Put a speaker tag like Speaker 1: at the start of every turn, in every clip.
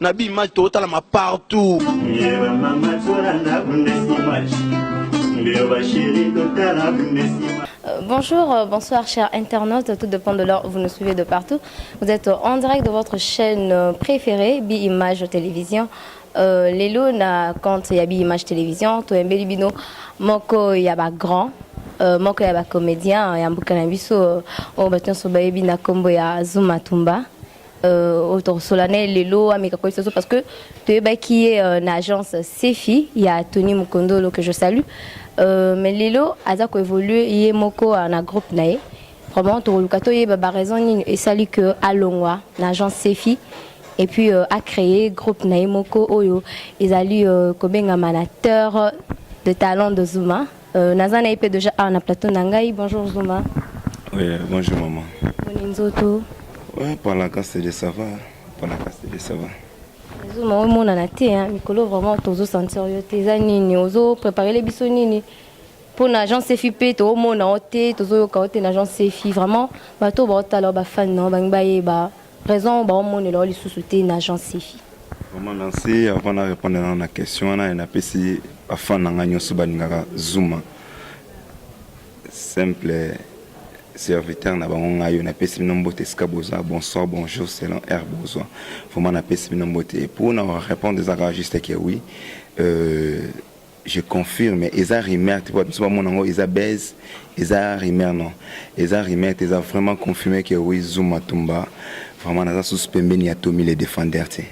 Speaker 1: na bi image totalama partout yeba mama
Speaker 2: tola na bundes image mbio ba chérie totala bundes image Euh, bonjour, euh,
Speaker 3: bonsoir chers internautes, tout dépend de l'heure, vous nous suivez de partout. Vous êtes en direct de votre chaîne euh, préférée, Bi-Image Télévision. Euh, Lelo na compte ya Bi-Image Télévision, to embeli bino moko ya ba grand, euh, moko ya ba comédien ya mboka na biso, euh, oyo bato nyonso bayebi na kombo ya Zuma Tumba. euh, autor solane lelo ameka koyebisa biso parce que toyebaki ye euh, na agence sefi ya tony mokondolo que je salue euh, mais lelo aza koévolue ye moko euh, na groupe na ye vraiment tokoluka toyeba baraison nini esali que alongwa na agence sefi et puis euh, a créé groupe na ye moko oyo ezali euh, kobengama na terre de talent de zuma Euh, naza na ye mpe deja awa na plateau na ngai bonjour zuma oui,
Speaker 4: bonjour mama boni nzoto
Speaker 3: ouais,
Speaker 4: palakasele ça va palakasele ça va zuma
Speaker 3: omonana te mikolo vraiment tozo sentir yo te eza nini ozo préparele biso nini mpo na agence efi mpe toomona yo te tozoyoka yo te na agence efi vraiment bato oyo baotala yo bafani na yo bangi bayeba Raison oyo baomonela yo lisusu te na Jean Sefi. Vraiment merci
Speaker 4: avant na répondre na na question wana et napesi ba fan na nga nyonso balingaka Zuma simple serviteur na bango ngai oyo napesi bino mbote esika boza bonsoir bonjour selon air bozwa vraiment napesi bino mbote mpo na répondre eza kaka juste ke oui euh, Je confirme eza rumeur te biso ba mona ngo eza buzz eza rumeur non eza rumeur te eza vraiment confirmé que oui Zuma Tumba vraiment naza sous pembeni ya Tommy le défendeur te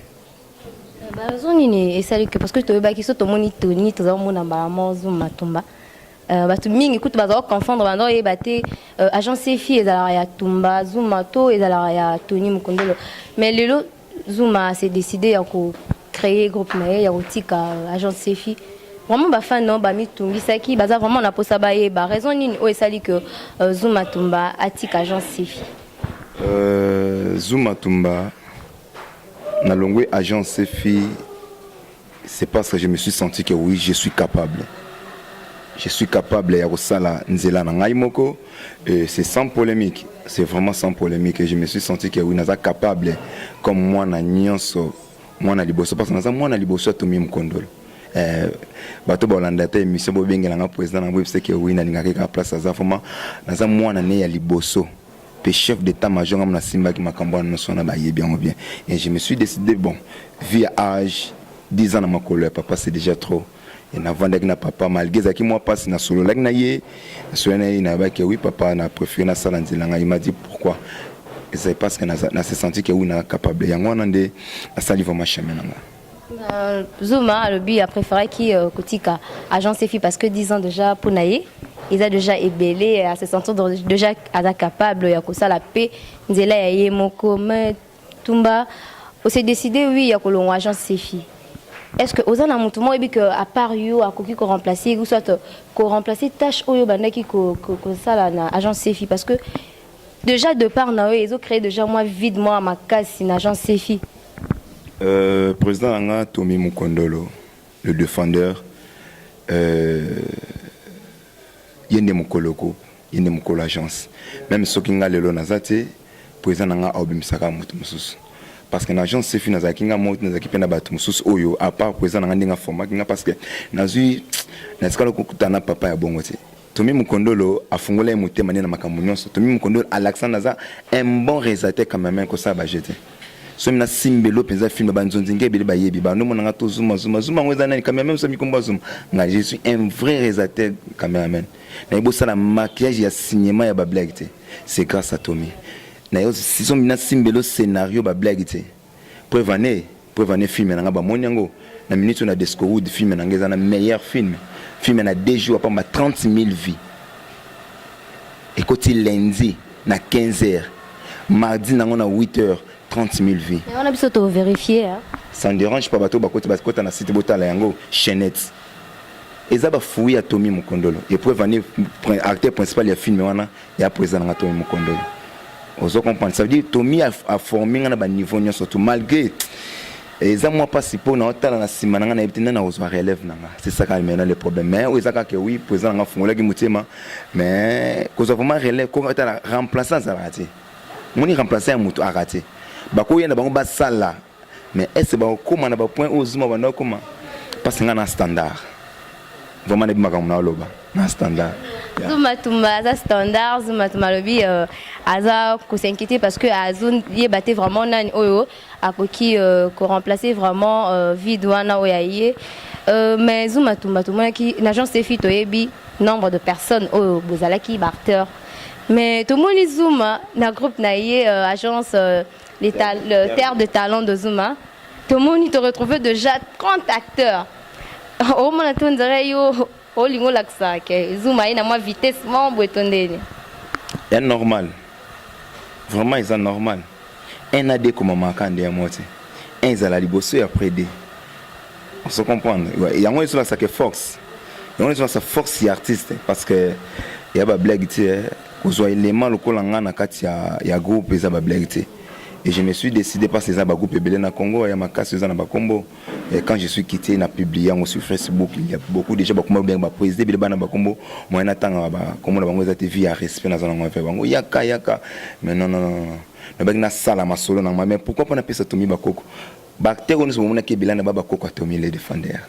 Speaker 3: ba raison nini esali que parce que toyebaki so tomoni Tony toza mona mbala mo Zuma Tumba Euh, bato mingi kutu bazala koconfondre banda oyeba te euh, agence efi ezalaka ya tumba zuma to ezalaka ya tony mokondolo mais lelo Zuma a se decider ya ko créer groupe na ye ya kotika agence Sefi. Vraiment ba fans no ba mitungisaki, baza vraiment na posa bayeba raison nini oyo esali que euh, Zuma Tumba atika agence Sefi. Euh, Zuma
Speaker 4: Tumba na longwe agence Sefi c'est parce que je me suis senti que oui je suis capable je suis capable ya kosala nzela na ngai moko et c'est sans polémique c'est vraiment sans polémique et je me suis senti que oui naza capable comme mwana nyonso mwana liboso parce que naza mwana liboso ya tomi mokondolo eh, bato balanda te émission bobengela nga président na boyebisa ke oui nalingaka kaka place aza vraiment naza mwana ne ya liboso pe chef d'etat major nga mona simbaki makambo wana noso wana bayebi yango bien et je me suis décidé bon vu ya âge 10 ans na makolo ya papa c'est déjà trop et navandaki na papa malgré ezalaki mwa mpasi nasololaki na ye nasololaki na ye nayebaki oui papa na préféré nasala nzela ngai m'a dit pourquoi ezali parce que na se senti que oui na capable yango wana nde nasali vraiment chemin na ngai Euh, Zuma alobi
Speaker 3: a préféré qui euh, kotika agence efi parce que 10 ans déjà mpo na ye eza déjà ebele à se sentir déjà aza capable ya kosala mpe nzela ya ye moko mais tumba ose décide oui ya kolongwa agence sefi est-ce que oza na motu moko oyebi que à part yo akoki koremplace ou soit koremplace tâche oyo obandaki kosala na agence sefi parce que déjà de part na yo ezo créer déjà mwa vide mwa makasi na agence sefi Euh,
Speaker 4: président na nga Tommy Mukondolo le défendeur euh, ye nde mokoloko ye nde mokolo agence meme soki nga lelo naza te président na nga aobimisaka moto mosusu parce que na agence sefi nazalaki nga moko nazalaki mpe na bato mosusu oyo apart président na nga ndenge afomaki nga parce que nazwi natikala kokutana papa ya bongo te Tommy Mukondolo afungola ye motema nde na makambo nyonso. Tommy Mukondolo alakisa naza un bon realisateur cameraman kosala ba jeux te. Somi na simbelo mpenza film ba nzonzi nge ebele bayebi ba nomona nga to zuma zuma zuma yango eza nani cameraman mosa mikombo azuma nga je suis un vrai realisateur cameraman na ebosala maquillage ya cinéma ya ba blague te c'est grâce à Tommy na yo somi na simbelo scénario ba blague te Preuve en est, preuve en est film na nga ba moni yango na minute na Desco Wood film na nga eza na meilleur film. Film na 2 jours apamba 30000 vues. Ekoti lundi na 15h. Mardi nango na 8h 30000 vues. Mais on a biso to vérifier
Speaker 3: hein. Ça ne dérange pas bato
Speaker 4: bakoti bakota na site botala yango chaînette. Eza ba fouilles à Tommy Mukondolo. Et preuve en est acteur principal ya film wana ya president nanga Tommy Mukondolo ozo comprendre ça veut dire Tommy a, a formé nga na ba niveau nyonso tout malgré eza mwa mpasi mpo na otala na nsima na ngai nayebi te nani akozwa relève na ngai c'est ça kaka maintenant le problème mais oyo eza kaka oui président na ngai afungolaki motema mais kozwa vraiment relève ko otala remplaçant azalaka te moni remplaçant ya moto aka te bakoya na bango basala mais est ce bakokoma na bapoint oyo zuma banda okoma mpasi ngai na standard vraiment nayebi makambo na oloba na standard zuma tumba
Speaker 3: aza standard zuma tumba alobi euh, aza kosinquiéter parce que azoyeba te vraiment nani oyo akoki euh, koremplacer vraiment euh, vide wana oyo aye mais zuma tumba tomonaki na agence efi toyebi nombre de personnes oyo bozalaki baacteur mais tomoni zuma na groupe na ye agence Les ta le terre de talent de Zuma. Tomoni, te retrouver déjà 30 acteurs. Au moins, on dirait yo, au lingo laksa, que Zuma est na moi vitesse, mon boy tondeni.
Speaker 4: ya normal vraiment eza normal un na de komamaka nde ya mote un ezala liboso ya après de ozo comprendre Ouais, yango ezolakisa ke force yango ezolakisa force ya artiste parce que ya bablague ti eh, kozwa element lokola nga na kati ya, ya groupe eza ba blague te et je me suis décidé parce eza ba groupe ebele na Congo ya makasi eza na bakombo et quand je suis quitté na publie yango sur Facebook il y a beaucoup déjà bakoma bien ba président bile bana bakombo moyen na tanga ba kombo na bango eza te vie ya respect na zana ngo avec bango yaka yaka mais non non non na baki na sala masolo na mais pourquoi pas na pesa tomi bakoko ba terre nous bomona ke bilana ba bakoko atomi les défendeurs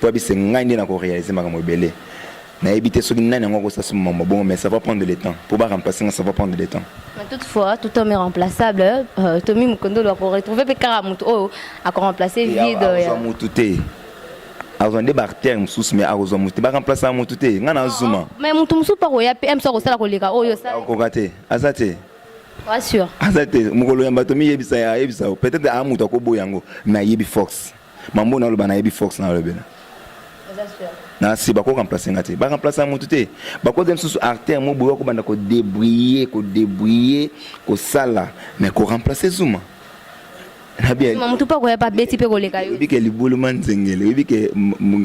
Speaker 4: Pour abise ngai nde nako realiser makambo ebele. Nayebi te soki nani yango akosala somo mambo bongo mais ça va prendre le temps. Pour ba remplacer nga ça va prendre le temps. Mais toutefois, tout
Speaker 3: homme est remplaçable. Euh, Tommy Mukondolo ako retrouver pe kaka mutu oyo ako remplacer vide ya. Akozwa mutu te.
Speaker 4: Akozwa nde ba artère mosusu mais akozwa mutu te. Ba remplacer mutu te. Nga na zuma. Mais mutu mosusu pa koya
Speaker 3: pe MSA kosala koleka oyo sa. Akoka te. Aza
Speaker 4: te. Pas sûr.
Speaker 3: Aza te. Mukolo ya
Speaker 4: bato miyebisa ya yebisa. Peut-être a mutu akoboya yango mais ayebi force. Mambo na loba na yebi fox na lobela. Na si bako remplacer ngati. Ba remplacer mutu te. Bako dem susu artère mo boyo ko banda ko débrouiller, ko débrouiller, ko sala mais ko remplacer Zuma. Na bien. Zuma mutu pa ko ya pa beti
Speaker 3: pe ko leka yo. Yebi ke libulu man zengele.
Speaker 4: Yebi ke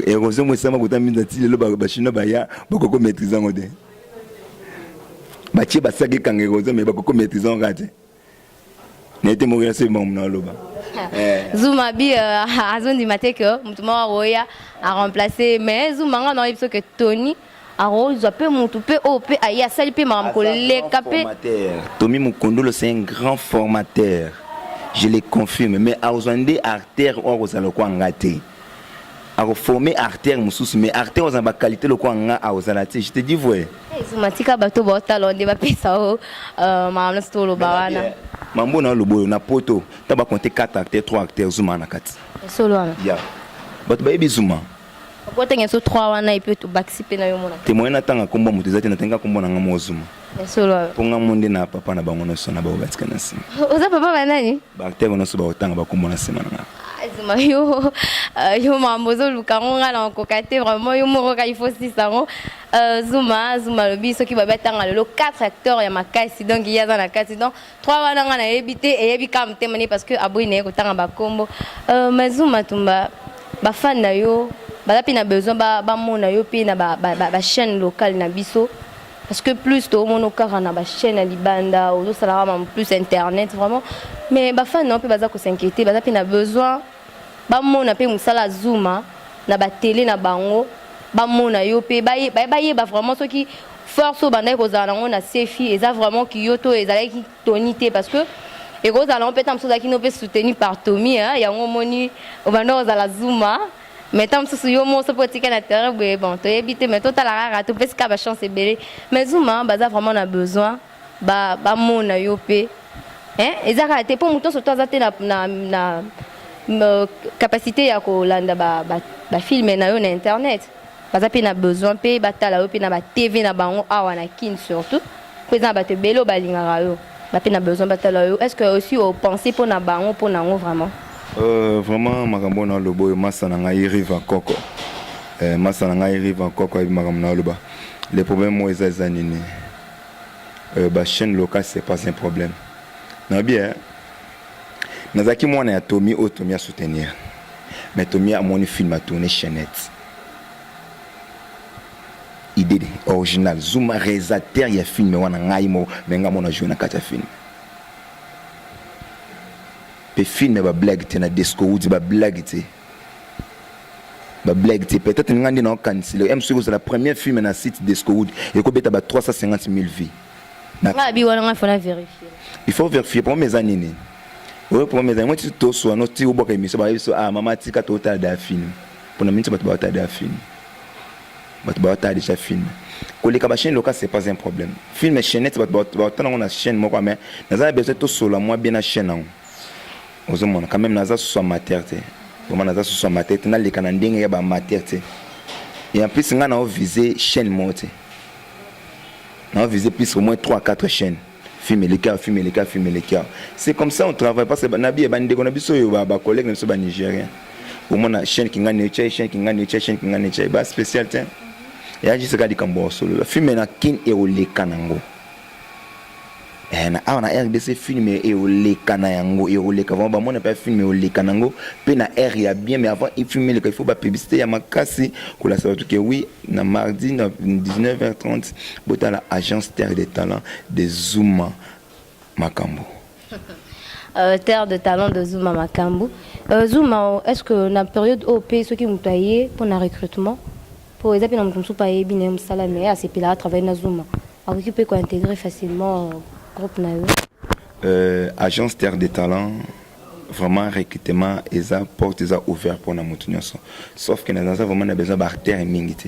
Speaker 4: erosion mo sama ko ta minza ti lelo ba chinois ba ya bako ko maîtriser ngote. Ba tie ba saki kangero zo mais bako ko maîtriser ngati. nete mokela se bango na loba eh. zuma
Speaker 3: bi euh, azondima te ke motu moko akoya aremplace mais zuma nga nayebi so ke tony akozwa mpe motu mpe oyo mpe aye asali mpe makambo koleka mpe tomi mokundolo
Speaker 4: c'est un grand formateur je le confirme mais akozwa nde artère oyo akozala lokwa nga te ako former artère mususu mais artère ozana ba qualité lokola nga akozala te je te dis vrai ezuma tika bato
Speaker 3: baotala nde bapesa o euh, makambo nyonso toloba wana mambo na oloba oyo
Speaker 4: na poto ta bakonte 4 acteur 3 acteur zuma na kati solo wana ya
Speaker 3: bato
Speaker 4: bayebi zuma okotenge so
Speaker 3: 3 wana epe tobakisi mpe na yo mona te moyen natanga nkombo moto
Speaker 4: eza te natanga nkombo na nga moko zuma Ya solo awa. Mpo nga
Speaker 3: mo nde na
Speaker 4: papa na bango nyonso na baoyo batika na nsima. Oza papa ba nani?
Speaker 3: Baacteur nyonso bakotanga
Speaker 4: bakombo na nsima na nga. azuma ah, yo
Speaker 3: euh, yo mambo ozoluka yango ngai na okoka te vraiment yo moko kaka ifo sisa yango euh, zuma zuma alobi soki babi atanga lelo 4 acteur ya makasi donc ye aza na kati donc 3 wana ngai nayebi te eyebi kaka motema ne parce que aboyi na ye kotanga bakombo euh, ma zuma tumba bafane na yo baza mpe na besoin bamona yo mpe na bachaîne locale na biso parce que plus toomona okaka na bachaîne ya libanda ozosalaka mamo plus internet vraiment mais bafani nao mpe baza kosinquiete baza mpe na besoin bamona mpe mosala ya zuma na batele na bango bamona yo mpe bayeba vraiment soki force oyo bandaki kozala nango na sefi eza vraiment kiyo to ezalaki toni te parce que ekozala nango mpe ntango mosusu ozalaki no mpe soutenu par tomi yango omoni obanda kozala zuma mais ntango mosusu yo moko soki otika na terrain boye bon toyebi te mais totala kaka topesi kaka bachance ebele mais zuma baza vraiment na besoin bamona ba yo mpe eza kaka te mpo moto nyonso to aza te na, na, na euh, capacité ya kolanda bafilme ba, ba na yo na internet baza mpe na besoin mpe batala yo mpe na batv na bango awa na kin surtout mpo eza na bato ebele oyo balingaka yo Ba pe na besoin batala yo. Est-ce que aussi au penser pour na bango pour nango vraiment? Euh, vraiment
Speaker 4: makambo na lobo yo masa na ngai rive en coco. Euh, masa na ngai rive en coco ayebi makambo na loba. Le problème moi eza eza nini? Euh, ba chaîne locale c'est pas un problème. Na bien. Nazaki mwana ya Tommy oyo Tommy a soutenir. Mais Tommy amoni film a tourner chaînette. Idee de original zuma realisateur ya film wana ngai moko mais ngai mona joue na kati ya film pe film ba blague te na desco wudi ba blague te ba blague te peut-être ngai nde naokanisi leo mc kozala premier film na site desco wudi ekobeta ba 350 000 vues ngai abi
Speaker 3: wana ngai fona vérifier il faut vérifier
Speaker 4: problème eza nini oyo problème eza yango ti toswa no ti obwaka emission bayebi so ah mama tika totala da film mpona miniti bato baotala da film bato baotala deja film koleka ba chaîne locale c'est pas un problème film chaînette bato baotala yango na chaîne moko mais naza na besoin tosolola mwa bien na chaîne yango ozomona quand même naza susu amateur te vraiment naza susu amateur te naleka na ndenge ya baamateur te et en plus ngai nao vise chaîne moko te nao vise plus au moins 3 4 chaîne film eleka film eleka film eleka c'est comme ça on travaille parce que nabi ba ndeko na biso yo ba ba collègues na biso ba nigériens au moins na chaîne kingani yo chai chaîne kingani yo chai chaîne kingani chai ba spécial tiens ya juste ka likambo solo la film na kin et oleka nango eh na awa na RDC film et oleka na yango et oleka vraiment ba mona pas film et oleka nango pe na air ya bien mais avant il film il faut ba publicité ya makasi kola ça tout que oui na mardi na 19h30 Botala agence terre de talent de Zuma makambo.
Speaker 3: Euh, terre de talent de Zuma makambo. Euh, Zuma, est-ce que na période OP, ceux qui mutu aye pour na recrutement, pour eza pe na mutu musu pa ye bine musala mais a sepela a travailler na Zuma. Akoki pe ko intégrer facilement euh, groupe na yo. Euh,
Speaker 4: agence terre de talent vraiment recrutement eza porte eza ouvert pour na mutu nyonso. Sauf que na naza vraiment na besoin ba terre mingi te.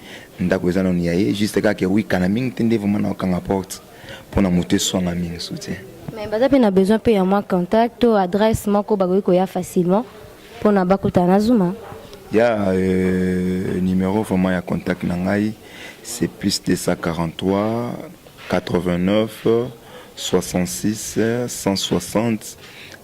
Speaker 4: Ndaku eza nanu ya ye juste kaka ke wika na mingi te nde vraiment na okanga porte mpo na moto eswanga mingi soutien. Mais baza mpe na
Speaker 3: besoin mpe ya mwa contact to adresse moko bakoki koya facilement mpo na bakutana na Zuma. Ya
Speaker 4: euh, numero vraiment ya contact na ngai c'est plus 243 89 66 160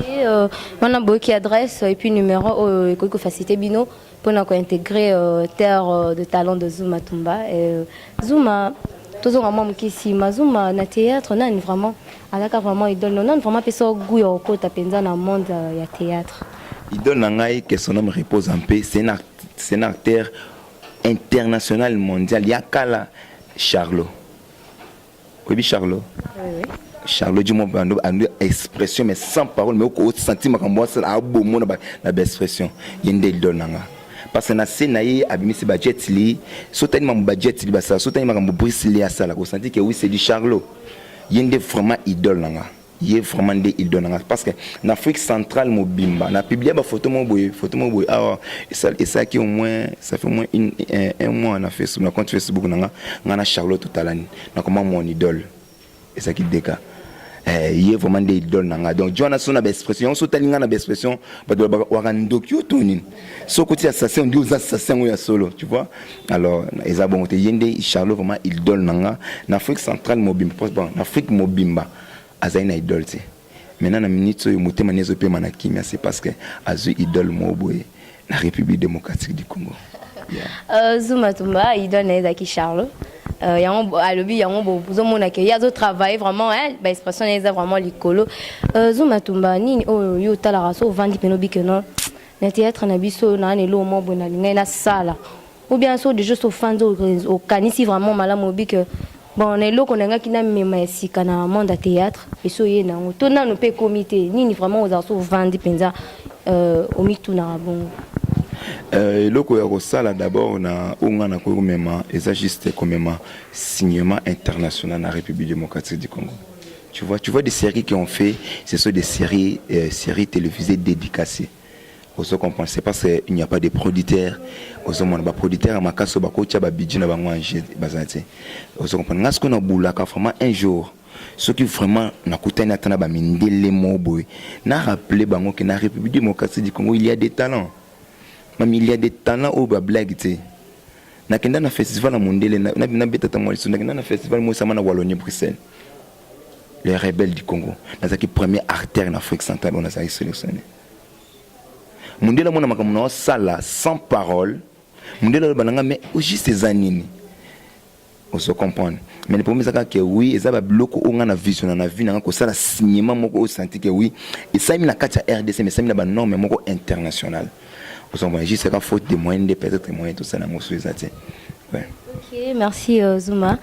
Speaker 4: Et
Speaker 3: euh, on a beaucoup d'adresses et puis numéro oyo euh, ekoki kofacilite bino mpona kointégrer euh, terre euh, de talent de Zuma Tumba. Et, euh, Zuma tozonga mwa moke nsima Zuma na théâtre nani vraiment alaka vraiment idole no nani vraiment apesa goût ya kokota mpenza na monde euh, ya théâtre idole na ngai
Speaker 4: que son homme repose en paix c'est un, art, c'est un acteur international mondial ya kala charlot Oyebi Charlot Oui, oui. Charlot dit moi bando ando expression mais sans parole mais au senti makambo asala abomo na ba na ba expression yende idol nanga parce que na se na ye abimisi ba jet li sotani mambo ba jet li basala sotani makambo Bruce Lee asala ko senti que oui c'est du Charlot yende vraiment idol nanga ye vraiment nde idole na ngai parce que na afrique centrale mobimba na publia bafoto moko boye foto moko boye awa esalaki au moins ça fait au moins une, un, un mois na facebook na compte facebook na nga nga na charlotte totalani nakoma mon idole ezalaki deka eh, ye vraiment nde idole na ngai donc joana so na baexpression yango so otali ngai na baexpression bato waka ndoki yo to nini soki otia sase ondi oza sase yango ya solo tu vois alors eza bongo te ye nde charlot vraiment idole na nga na afrique centrale mobimba bon na afrique mobimba azali na idole te maintenant na minute oyo motema ni ezopema na kimia c'est parce que azwi idole moko boye na république démocratique du congo yeah. uh,
Speaker 3: zuma tumba idole na ye ezalaki charlot Euh, yango alobi yango bozomona ke ye azotravaille vraiment baexpression na ye eza vraiment likolo euh, zuma tumba nini oyo yo otalaka so ovandi mpena obike non na théâtre na biso oyo naa na eloko moko boye nalingaki nasala ou bien soki deja so ofandi okanisi vraiment malamu oyebi ke bon na eloko nalingaki namema ya sika na monde ya théâtre esi oye na yango to nano mpe ekomi te nini vraiment ozala so ovandi mpenza euh, omitunaka bongo Euh,
Speaker 4: eloko ya kosala d'abord na oyo ngai nakoki komema eza juste komema cinéma international na république démocratique du congo Tu vois, tu vois des séries qui ont fait, ce sont des séries, euh, séries télévisées dédicacées. Ozo comprendre, c'est parce qu'il n'y a pas de producteurs. Ozo mona ba producteurs ma kaso ba kocha ba budget na bango en jeu bazate. Ozo comprendre. Ngas ko na boulaka vraiment un jour. Ce qui vraiment na kutani atana ba mindele moboy. Na rappeler bango que na République démocratique du Congo il y a des talents. Même il y a des talents au ba blague tu nakenda na festival ya mondele nabeta ntango ya liso nakenda na festival moyesama na wallonie bruxelles les rebelles du Congo nazalaki premier artère na Afrique centrale oyo nazalaki sélectionné mondele amona makambo na osala sans parole mondele aloba na nga mais au juste eza nini ozo comprendre mais le problème ezaka ke oui eza babiloko oyo ngai na visiona na vie na ngai kosala cinéma moko oyo santi ke oui esalemi na kati ya rdc mais esalemi na banorme moko internationale ozo comprendre juste eka faute de moyen nde peut-être moyen tosala yango so eza te Ouais. Ok, merci
Speaker 3: euh, Zuma.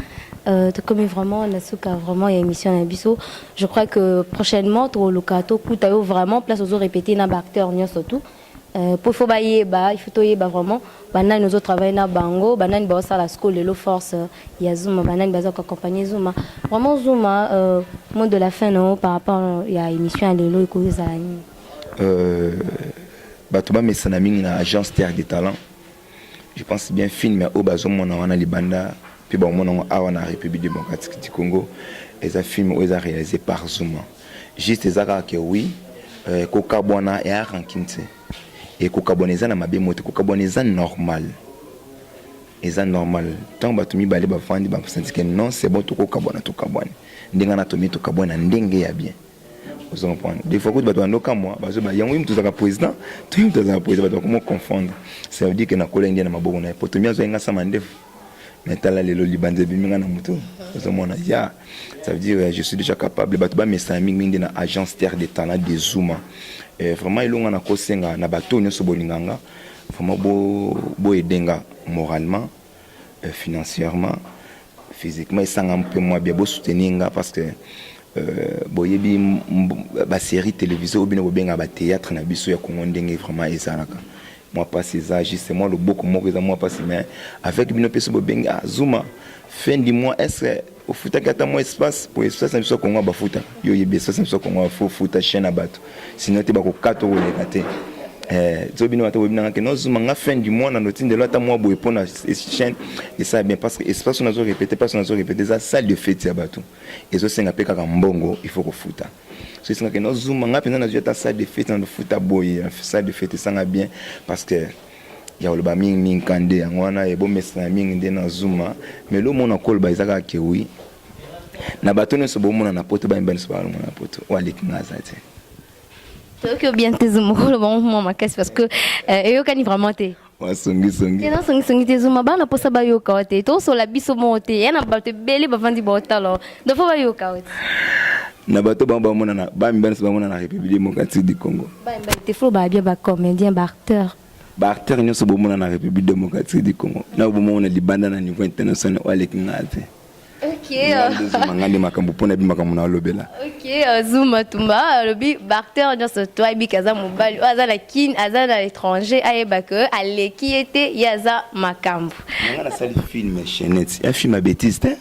Speaker 3: Euh, tokomi vraiment na suka vraiment ya émission na biso je crois que prochainement tokoluka tokuta yo vraiment place ozo répéter na baacteur nyonso tout euh, po faut bayeba il faut toyeba vraiment banani ozo travaille na bango banani baosala sco lelo force euh, ya zuma banani baza koaccompagne zuma vraiment zuma euh, mot de la fin nao par rapport euh, ya émission ya lelo ekoki ezala nini euh,
Speaker 4: bato bamesana mingi na agence terre de talent Je pense bien film ya oyo bazomona wana libanda mpe bakomona yango awa na République démocratique du Congo eza film oyo eza réalisé par Zuma juste eza kaka ke oui euh, kokabwana ya rancune te e kokabwana eza na mabe mote kokabwana eza normal eza normal ntango bato mibale bafandi basanti ke non c'est bon tokokabwana tokabwani ndenge wana tomi tokabwani na ndenge ya bien ozo comprendre des fois kutu bato bando kamwa bazo ba yango yimtu zaka président to yimtu azaka président bato bakoma confondre ça veut dire que nakola india na maboko na ye poto mia azwa nga sama ndefu mais tala lelo libanza ebimi nga na moto ozomona ya ça veut dire je suis déjà capable bato bamesana mingi mingi nde na agence terre de talent de zuma eh, vraiment elonga nakosenga na bato nyonso bolinga nga vraiment boyede bo nga moralement euh, financièrement physiquement esanga mpe mwa bia bosoutenir nga parce que euh, boyebi basérie télévisé oyo bino bobengaka bathéâtre na biso ya kongo ndenge vraiment ezalaka mwa mpasi eza juste mwa loboko moko eza mwa mpasi mais avec bino mpe so bobengi ah, zuma fin du mois est ce ofutaki ata mwa espace po espace na biso ya kongo bafuta yo oyebi espace na biso ya kongo fo futa chien na bato sino te bakokata okoleka te eh, zo bino bato boyebi nanga ke nozuma nga fin du mois na notindelo ata mwa boye mpo na chaîne esala bien parce que espace nazo répété place nazo répété eza salle de fete ya bato ezosenga mpe kaka mbongo il faut kofuta so esengaka nozuma nga mpenza nazwi ata salle de fete na lofuta boye salle de fete esanga bien parce que ya koloba mingi mingi ka nde yango wana ebomesana mingi nde na zuma mais lo mona koloba eza kaka ke wi na bato nyonso bomona na poto bayemba nyonso balongo na poto oyo aleki nga aza te toyoki
Speaker 3: obien te zuma koloba ngo mwa makasi parce que euh, eyokani vraiment te wasongisongi
Speaker 4: eza songisongi te
Speaker 3: zuma bana mposa bayoka yo te tosola biso moko te ya na bato ebele bavandi baotala Donc faut pas yoka oti. Na
Speaker 4: bato bango bamona na ba mibali nso bamona na République démocratique du Congo. Ba mibali te faut ba
Speaker 3: bien ba comédien ba acteur. Ba acteur nyonso bomona na
Speaker 4: République démocratique du Congo. Na bomona libanda na niveau international oyo aleki ngai te. Okay.
Speaker 3: Zuma ngai nde makambo mpo na bi makambo na olobela. Okay, euh, Zuma Tumba alobi ba acteur nyonso to ayebi kaza mobali oyo aza na Kin aza na l'étranger ayeba que aleki ye te ye aza makambo. Ngai nasali
Speaker 4: film chaînette. Ya film ya bêtise te.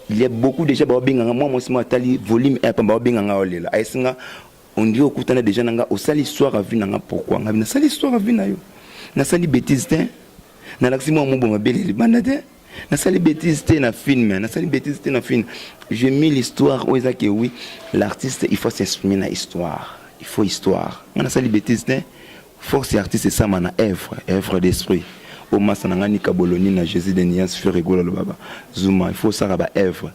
Speaker 4: il y a beaucoup déjà ba benga nga moi moi sima tali volume eh, pamba ba benga nga olela oh, ayesinga on dirait okutana déjà nanga osali histoire à vie nanga pourquoi nga na sali histoire à vie na yo na sali bêtise te na laksi moi mubo mabele libanda te na sali bêtise te na film na sali bêtise te na film j'ai mis l'histoire où eza que oui l'artiste il faut s'exprimer na histoire il faut histoire nga na sali bêtise te Force ya artiste esama na œuvre, œuvre d'esprit. Oyo masta na nga Nika Boloni na Jesus de Nuance Ferre Gola alobaka Zuma il faut osaka ba œuvre.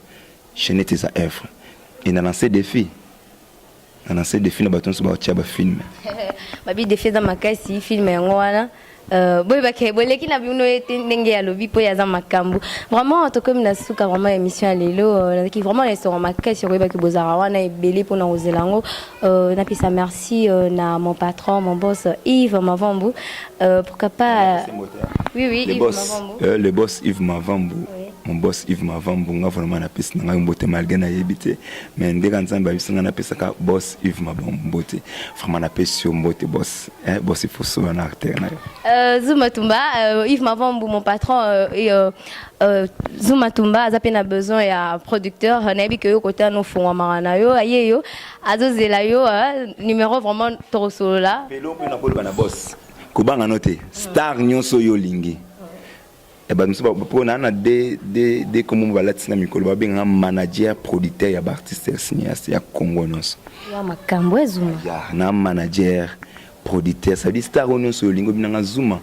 Speaker 4: Chainette eza œuvre. Et na lancer defi na lancer defi na bato nso baotia ba film. Babi defi
Speaker 3: eza makasi film yango wana. Euh, boyebake boleki na bino ye te ndenge ya lobi mpo ye aza makambo vraiment tokomi na suka vraiment ya émission ya lelo euh, nazalaki vraiment na esengo makasi okoyebaki bozalaka wana ebele mpo na kozela yango Euh, napesa merci euh, na mon patron mon boss Yves Mavambu euh, pourquoi pas oui oui le Yves boss, Mavambu euh, le boss Yves
Speaker 4: Mavambu oui. mon boss Yves Mavambu nga vraiment napesi na ngai mbote malgré nayebi te mais ndenge nzambe abisi ngai napesaka boss Yves Mavambu mbote vraiment napesi yo mbote boss eh, boss ifoso wana acteur na yo euh, Zuma Tumba
Speaker 3: euh, Yves Mavambu mon patron euh, et, euh, Euh, Zuma Tumba aza pe na besoin ya producteur nayebi ke yo kota no fungwa mara na yo aye yo azozela yo euh, numéro vraiment tokosolola pelo mpe nakoloba na boss
Speaker 4: kobanga no te star nyonso oyo olingi eh, bato mosusu mpo naa na de kombo mo balatisi na mikolo babengaka manager producteur ya baartiste ya cinéaste ya congo nyonso makambo
Speaker 3: ezuma na manager
Speaker 4: producteur sadi star oyo nyonso olingi obinanga zuma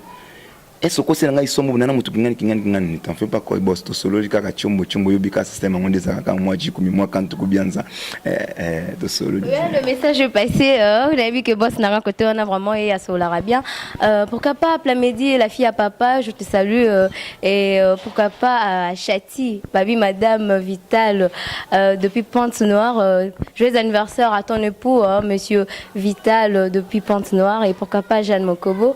Speaker 4: Est-ce okosela ngai somo bonana moto kingani kingani kingani ne t'en fais pas koi boss tosololi kaka chombo chombo yobi kaka système yango nde ezalaka kaka mwa jikumi mwa kantu kubianza eh, eh, tosololi ouais, le message est
Speaker 3: passé euh, on a vu que boss nanga côté on a vraiment et asolaka bien euh, pourquoi pas Plamedi la fille à papa je te salue euh, et euh, pourquoi pas à euh, Chati baby madame Vital euh, depuis Pente Noire euh, joyeux anniversaire à ton époux hein, monsieur Vital euh, depuis Pente Noire et pourquoi pas Jeanne Mokobo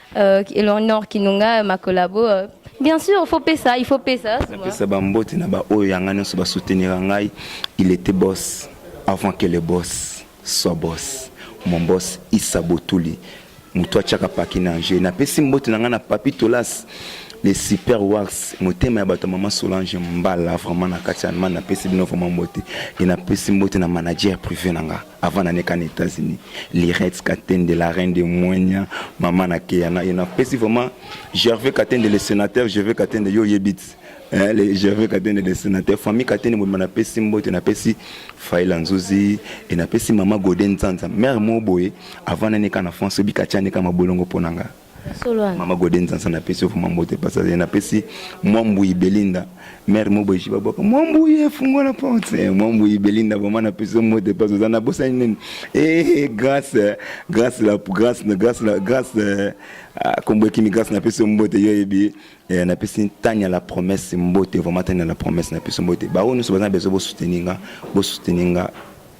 Speaker 3: Euh, Eleonore Kinunga, ma collabo. Euh, bien sûr, il faut payer ça, il faut payer ça. napesa bambote na baoyo yanga nyonso basoutenira
Speaker 4: ngai il était boss avant que le boss soit boss mon boss isa botuli moto atiaka paki na ange napesi mbote na ngai na papi tolas les super wars motema ya bato ya mama solange mbala vraiment na kati ya allemagne napesi bino vraiment mbote e napesi mbote na manager privé na ngai avant nane kana États-Unis Lirette Katende la reine de Moigna maman na Keana et na pesi vraiment Gervais Katende le sénateur Gervais Katende yo yebit eh, le Gervais Katende le sénateur famille Katende mobima na pesi mbote na pesi Faila Nzuzi et na pesi maman Godin Nzanza mère mo boye avant nane kana France obika tiane kama bolongo ponanga Mama Gode Nzansa na pesi ofuma mbote pasa ye na pesi Mwambuyi Belinda mère Mobo Jiba Bwaka Mwambuyi efungwa na porte Mwambuyi Belinda vraiment na pesi mbote pasa za na bosa nini eh grâce grâce la grâce na grâce la grâce euh, ah, kombo kimi grâce na pesi mbote yo yebi eh, na pesi tanya la promesse mbote vraiment tanya la promesse na pesi mbote ba oyo nyonso baza besoin bo soutenir nga bo soutenir nga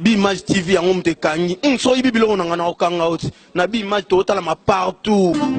Speaker 1: B'image TV yango moto ekangi. Hum soki oyibi biloko na nga nako kanga yo ti. Na b'image toko talama partout.